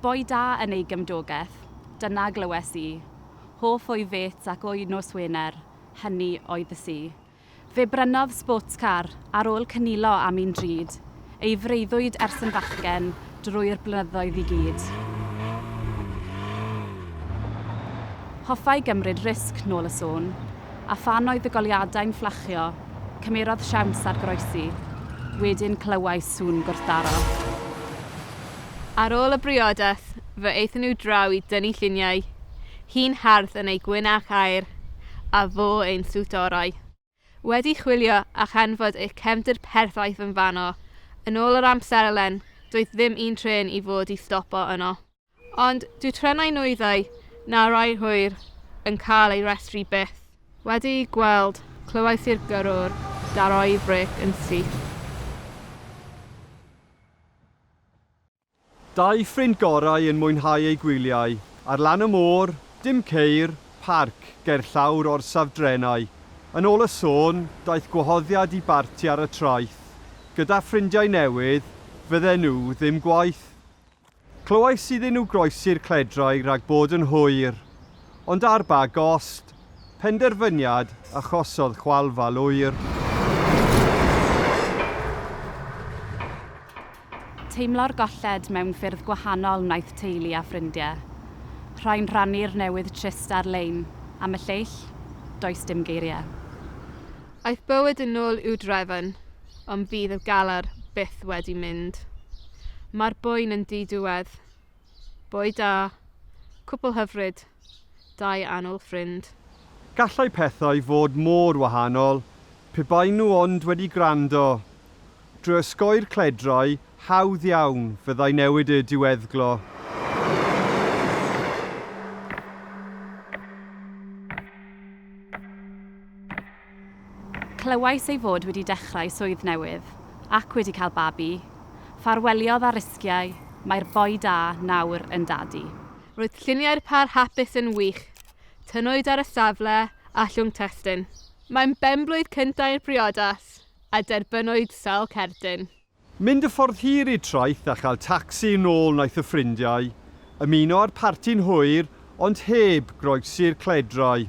Boi da yn ei gymdogaeth, dyna glywes i. Hoff o'i fêts ac o'u nos Wener, hynny oedd y si. Fe brynodd sports car, ar ôl cynilo am un drud. ei freuddwyd ers yn fachgen drwy'r blynyddoedd i gyd. Hoffai gymryd risg, nôl y sôn, a phan oedd y goliadau'n fflachio, cymerodd siawns ar groesi. Wedyn clywais sŵn gwrthdaro. Ar ôl y briodas, fe aethon nhw draw i dynnu lluniau, hi'n hardd yn ei gwyn a'ch aer, a fo ein siwt orau. Wedi chwilio a chanfod y cefndir perffaith yn fanno, yn ôl yr amserlen, doedd ddim un trên i fod i stopo yno. Ond dyw trenau nwyddau, na rai hwyr, yn cael eu rhestru byth. Wedi gweld, clywais i'r gyrrwr daro'i frêc yn syth. Dau ffrind gorau yn mwynhau eu gwyliau ar lan y môr, dim ceir, parc, gerllaw'r orsaf drenau. Yn ôl y sôn, daeth gwahoddiad i barti ar y traeth. Gyda ffrindiau newydd, fydden nhw ddim gwaeth. Clywais iddyn nhw groesi'r cledrau rhag bod yn hwyr. Ond ar ba gost? Penderfyniad achosodd chwalfa lwyr. Teimlo'r golled mewn ffyrdd gwahanol wnaeth teulu a ffrindiau. Rhai'n rhannu'r newydd trist ar-lein, am y lleill, does dim geiriau. Aeth bywyd yn ôl i'w drefn, ond fydd y galar byth wedi mynd. Mae'r boen yn di-diwedd. Boi da, cwpl hyfryd. Dau annwyl ffrind. Gallai pethau fod mor wahanol pe baen nhw ond wedi gwrando. Drwy osgoi'r cledrau, hawdd iawn fyddai newid y diweddglo. Clywais ei fod wedi dechrau swydd newydd ac wedi cael babi. Ffarweliodd â'r risgiau, mae'r boi da nawr yn dadi. Roedd lluniau'r pâr hapus yn wych. Tynnwyd ar y safle a llwng testun. Mae'n benblwydd cyntaf i'r briodas a derbynwyd sawl cerdyn. Mynd y ffordd hir i'r traeth a chael tacsi yn ôl wnaeth y ffrindiau. Ymuno â'r parti'n hwyr ond heb groesi'r cledrau.